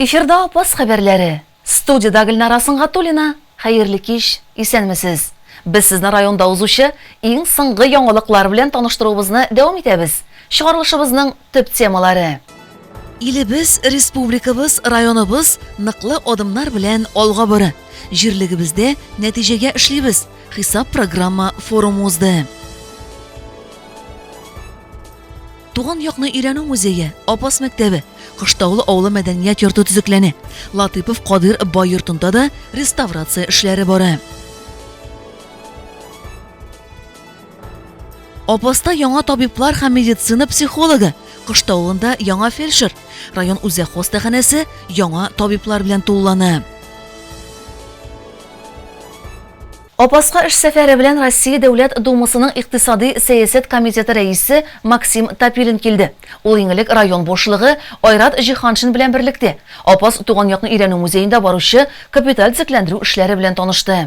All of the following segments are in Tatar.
Эфирда апас хәбәрләре. Студияда Гөлнара Сынгатуллина. Хәерле кич, исәнмесез. Без сезне районда узучы иң соңгы яңалыклар белән таныштыруыбызны дәвам итәбез. Чыгарылышыбызның Төп темалары. Илебез, республикабыз, районыбыз ныклы адымнар белән алга бара. Җирлегебездә нәтиҗәгә эшлибез, хисап программа форумы узды. Туган якны өйрәнү музее, Апас мәктәбе, Кыштаулы авылы мәдәният йорты төзекләнә. Латыйпов Кадыр бай йортында да реставрация эшләре бара. Апаста яңа табиблар һәм медицина психологы, Кышты авылында яңа фельдшер, район үзәк хастаханәсе яңа табиблар белән тулылана. Апаска эш сәфәре белән Россия Дәүләт Думасының икътисади сәясәт комитеты рәисе Максим Тапилин килде. Ул иң элек район башлыгы Айрат Җиһаншин белән берлектә Апас туган якны өйрәнү музеенда баручы капиталь төзекләндерү эшләре белән танышты.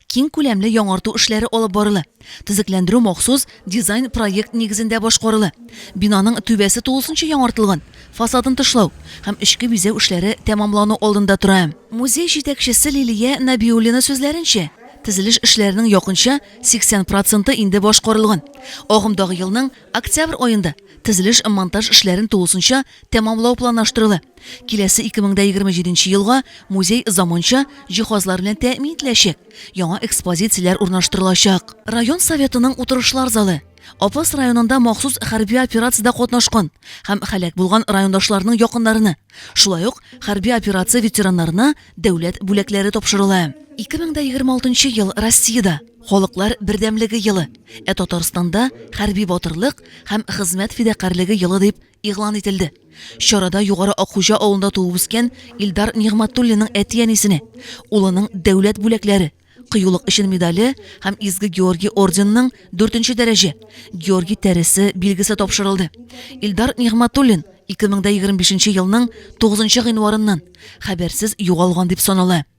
Киң күләмле яңарту эшләре алып барыла. Төзекләндерү махсус дизайн-проект нигезендә башкарыла. Бинаның түбәсе тулысынча яңартылган, фасадын тышлау һәм эчке бизәү эшләре тәмамлану алдында тора. Музей җитәкчесе Лилия Нәбиуллина сүзләренчә, төзелеш эшләренең якынча 80 проценты инде башкарылган. Агымдагы елның октябрь аенда төзелеш-монтаж эшләрен тулысынча тәмамлау планлаштырыла. Киләсе 2027 нче елга музей заманча җиһазлар белән тәэмин ителәчәк, яңа экспозицияләр урнаштырылачак. Район Советының утырышлар залы, Апас районында махсус хәрби операциядә катнашкан һәм һәлак булган райондашларның якыннарына, шулай ук хәрби операция ветераннарына дәүләт бүләкләре тапшырыла. 2026 ел Россиядә Халыклар бердәмлеге елы, ә Татарстанда хәрби батырлык һәм хезмәт фидакарьлеге елы дип игълан ителде. Чарада Югары Акхуҗа авылында туып үскән Илдар Нигъмәтуллинның әти-әнисенә улының дәүләт бүләкләре, кыюлык өчен медале һәм Изге Георгий орденының дүртенче дәрәҗә Георгий тәресе билгесе тапшырылды. Илдар Нигъмәтуллин 2025 елның 9 гыйнварыннан хәбәрсез югалган дип санала.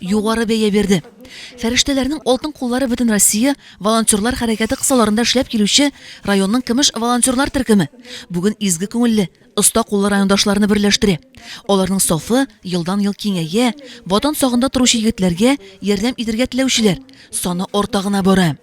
югары бәя бирде. Фәрештәләрнең алтын куллары Бөтенроссия волонтерлар хәрәкәте кысаларында эшләп килүче районның көмеш волонтерлар төркеме. Бүген изге күңелле, оста куллы райондашларны берләштерә. Аларның сафы елдан-ел киңәя, ватан сагында торучы егетләргә ярдәм итәргә теләүчеләр саны арта гына бара.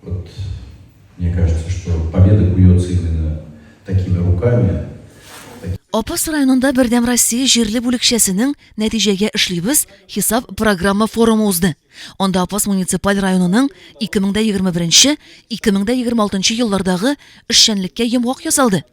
Вот мне кажется, что победа куется именно такими руками. Апас районында Бердәм Россия җирле бүлекчәсенең Нәтиҗәгә эшлибез хисап программа форумы узды. Анда Апас муниципаль районының 2021-2026 еллардагы эшчәнлеккә йомгак ясалды.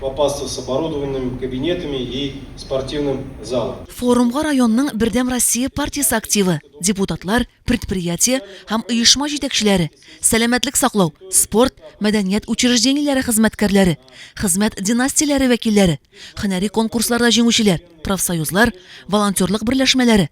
попасться с оборудованными кабинетами и спортивным залом. Форумга районның Бердәм Россия партиясе активы, депутатлар, предприятие һәм оешма җитәкчеләре, сәламәтлек саклау, спорт, мәдәният учреждениеләре хезмәткәрләре, хезмәт династияләре вәкилләре, һөнәри конкурсларда җиңүчеләр, профсоюзлар, волонтерлык берләшмәләре,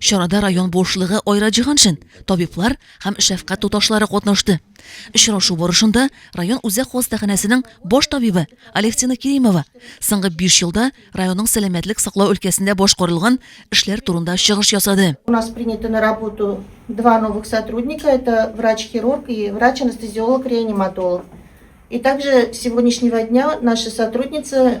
Чарада район башлыгы Айра Җиһаншин, табиблар һәм шәфкать туташлары катнашты. Очрашу барышында район үзәк хастаханәсенең баш табибы Алевтина Керимова соңгы 5 елда районның сәламәтлек саклау өлкәсендә башкарылган эшләр турында чыгыш ясады. У нас приняты на работу два новых сотрудника, это врач-хирург и врач-анестезиолог-реаниматолог. И также с сегодняшнего дня наши сотрудницы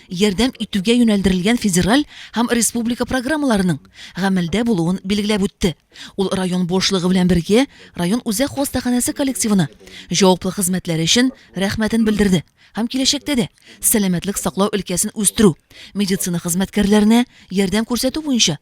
ярдәм итүгә юнәлдерелгән федераль һәм республика программаларының гамәлдә булуын билгеләп үтте. Ул район башлыгы белән бергә район үзәк хастаханәсе коллективына җаваплы хезмәтләре өчен рәхмәтен белдерде һәм киләчәктә дә сәламәтлек саклау өлкәсен үстерү, медицина хезмәткәрләренә ярдәм күрсәтү буенча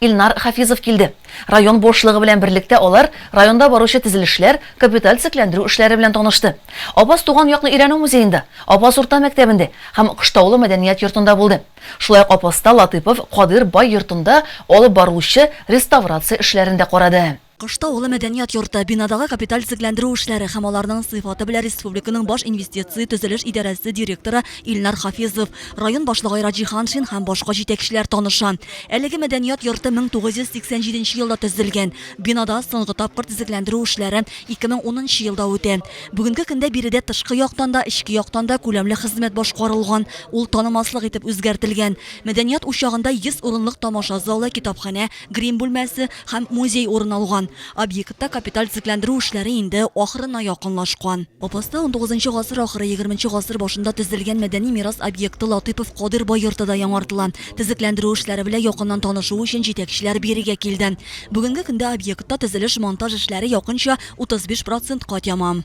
Илнар Хафизов килде. Район башлыгы белән берлектә алар районда баручы төзелешләр, капиталь төзекләндерү эшләре белән танышты. Апас туган якны өйрәнү музеенда, Апас урта мәктәбендә һәм Кыштаулы мәдәният йортында булды. Шулай ук Апаста Латыйпов Кадыйр бай йортында алып барылучы реставрация эшләрен дә карады. Кош тавылы мәдәният йорты, бинадагы капиталь төзекләндерү эшләре һәм аларның сыйфаты белән республиканың баш инвестиция-төзелеш идарәсе директоры Илнар Хафизов, район башлыгы Айрат Җиһаншин һәм башка җитәкчеләр таныша. Әлеге мәдәният йорты 1987 нче елда төзелгән. Бинада соңгы тапкыр төзекләндерү эшләре 2010 нчы елда үтә. Бүгенге көндә биредә тышкы яктан да, эчке яктан да күләмле хезмәт башкарылган, ул танымаслык итеп үзгәртелгән. Мәдәният учагында 100 урынлык тамаша залы, китапханә, грим бүлмәсе, Һәм музей урын алган объектта капиталь төзекләндерү эшләре инде ахырына якынлашкан. Апаста унтугызынчы гасыр ахыры, егерменче гасыр башында төзелгән мәдәни мирас объекты Латыйпов Кадыйр бай йорты да яңартыла. Төзекләндерү эшләре белән якыннан танышу өчен җитәкчеләр бирегә килде. Бүгенге көндә объектта төзелеш-монтаж эшләре якынча 35 процентка тәмам.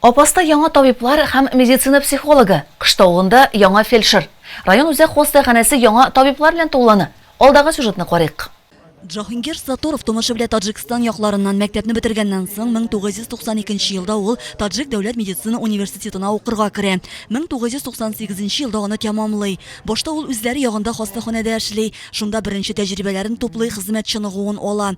Апаста яңа табиблар һәм медицина психологы, Кыш авылында яңа фельдшер. Район үзәк хастаханәсе яңа табиблар белән тулылана. Алдагы сюжетны карыйк. Джахангир Сатторов тумышы белән Таджикстан якларыннан. Мәктәпне бетергәннән соң, 1992 елда ул Таджик дәүләт медицина университетына укырга керә. 1998 елда аны тәмамлый. Башта ул үзләре ягында хастаханәдә эшли. Шунда беренче тәҗрибәләрен туплый, хезмәт чыныгуын ала.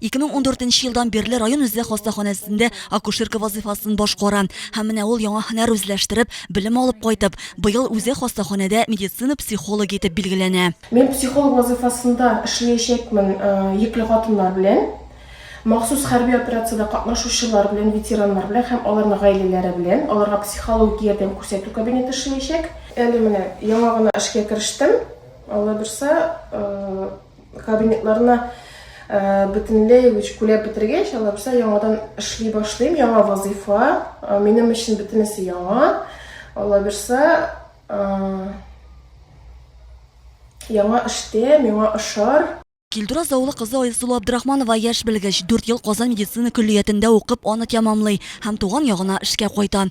Ике мең ундүртенче елдан бирле район үзәк хастаханәсендә акушерка вазыйфасын башкара. Һәм менә ул яңа һөнәр үзләштереп, белем алып кайтып, быел үзәк хастаханәдә медицина психологы итеп билгеләнә. Мин психолог вазыйфасында эшләячәкмен йөкле хатыннар белән, махсус хәрби операциядә катнашучылар белән, ветераннар белән һәм аларның гаиләләре белән. Аларга психологик ярдәм күрсәтү кабинеты эшләячәк. Әле менә яңа гына эшкә керештем, Аллабирса. Кабинетларына бөтенләй үч күләп бетергәч, аллапса яңадан эшли башлыйм, яңа вазифа. Минем өчен бөтенесе яңа. Аллабирса яңа эштә миңа ошар. Килдура заулы кызы Айсулу Абдрахманова яшь белгеч, 4 ел Казан медицина көллиятендә укып, аны тәмамлый һәм туган ягына эшкә кайта.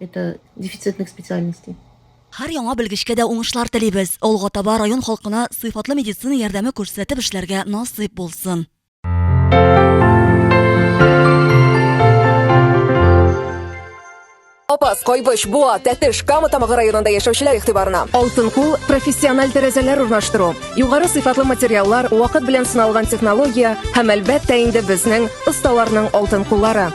Это дефицитных специальностей. Һәр яңа белгечкә дә уңышлар телибез. Алга таба район халкына сыйфатлы медицина ярдәме күрсәтеп эшләргә насыйп булсын. Апас, Кайбыч, Буа, Тәтеш, Кама Тамагы районында яшәүчеләр игътибарына. Алтын кул профессиональ тәрәзәләр урнаштыру, югары сыйфатлы материаллар, вакыт белән сыналган технология һәм әлбәттә инде безнең осталарның алтын куллары.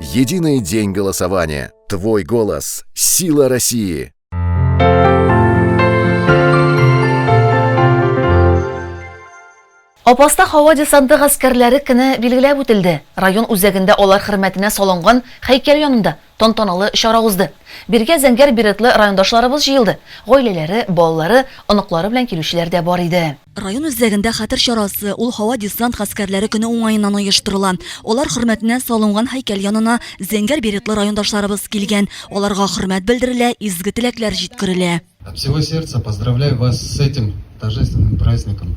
Единый день голосования. Твой голос. Сила России. Апаста һава десанты гаскәрләре көне билгеләп үтелде. Район үзәгендә алар хөрмәтенә салынган һәйкәл янында Тантаналы чара узды. Биргә зәңгәр беретлы райондашларыбыз җыелды. Гаиләләре, балалары, оныклары белән килүчеләр дә бар иде. Район үзәгендә Хәтер чарасы, ул Һава десант гаскәрләре көне уңаеннан оештырыла. Алар хөрмәтенә салынган һәйкәл янына зәңгәр беретлы райондашларыбыз килгән, аларга хөрмәт белдерелә, изге теләкләр җиткерелә. От всего сердца поздравляю вас с этим торжественным праздником!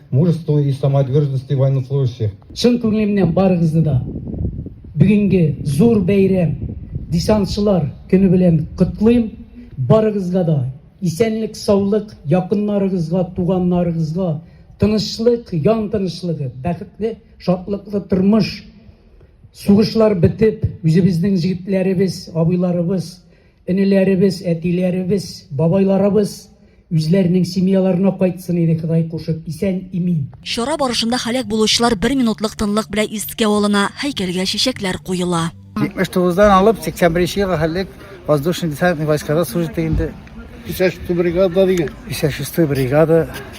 Мужество и самоотверженности военнослужащих. Чын күңелемнән барыгызны да бүгенге зур бәйрәм, Десантчылар көне белән котлыйм. Барыгызга да исәнлек, саулык, якыннарыгызга, туганнарыгызга тынычлык, ян тынычлыгы, бәхетле, шатлыклы тормыш. Сугышлар бетеп, үзебезнең җегетләребез, абыйларыбыз Энеләребез, әтиләребез, бабайларыбыз үзләренең семьяларына кайтсын иде, Ходай кушып, исән, имин. Чара барышында һәлак булучылар бер минутлык тынлык белән искә алына, һәйкәлгә чәчәкләр куела. 79 дан алып 81 елга хәтлек воздушный-десантный войскада служить итте инде. 56 бригада дигән. 56 бригада.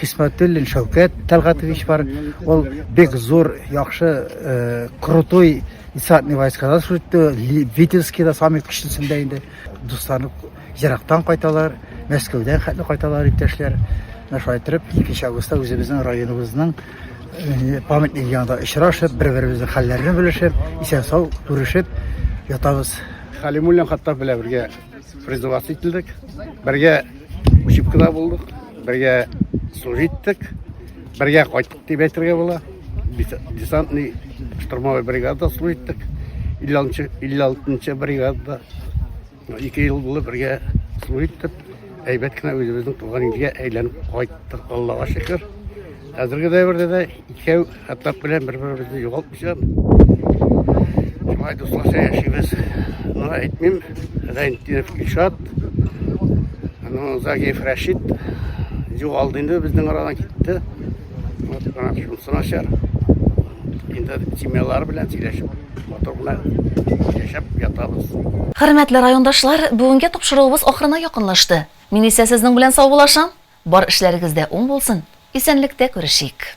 Хисмәтуллин Шәүкәт Тәлгатович бар. Ул бик зур, яхшы, крутой десантный войскада служитте, Вительскийда самый көчлесендә инде. Дусларны ерактан кайталар, Мәскәүдән хәтле кайталар иптәшләр. Менә шулай итеп, 2 августта үзебезнең районыбызның памятник янында очрашып, бер-беребезнең хәлләрне белешеп, исән-сау күрешеп ятабыз. Хәлимуллин Хаттаб белән бергә. призываться ителдек. Бергә учебкада булдык, бергә служить иттек, бергә кайттык дип әйтергә була. Десантный штурмовой бригада служить иттек. 56-нчы бригада ике ел булып бергә служить иттек. Әйбәт кенә үзебезнең туган илгә әйләнеп кайттык, Аллага шөкер. Хәзерге дәвердә дә икәү Хәтләп белән бер-беребезне югалтмыйча шулай дуслаша яшибез. Ну, әйтмим, Рәнтинов Илшат, ну, Загиев Рәшит югалды инде безнең арадан китте. Вот, ана шунысы начар. Инде семьялар белән сөйләшеп, матур гына яшәп ятабыз. Хөрмәтле райондашлар, бүгенге тапшыруыбыз ахырына якынлашты. Мин исә сезнең белән саубуллашам. Бар эшләрегездә уң булсын. Исәнлектә күрешик.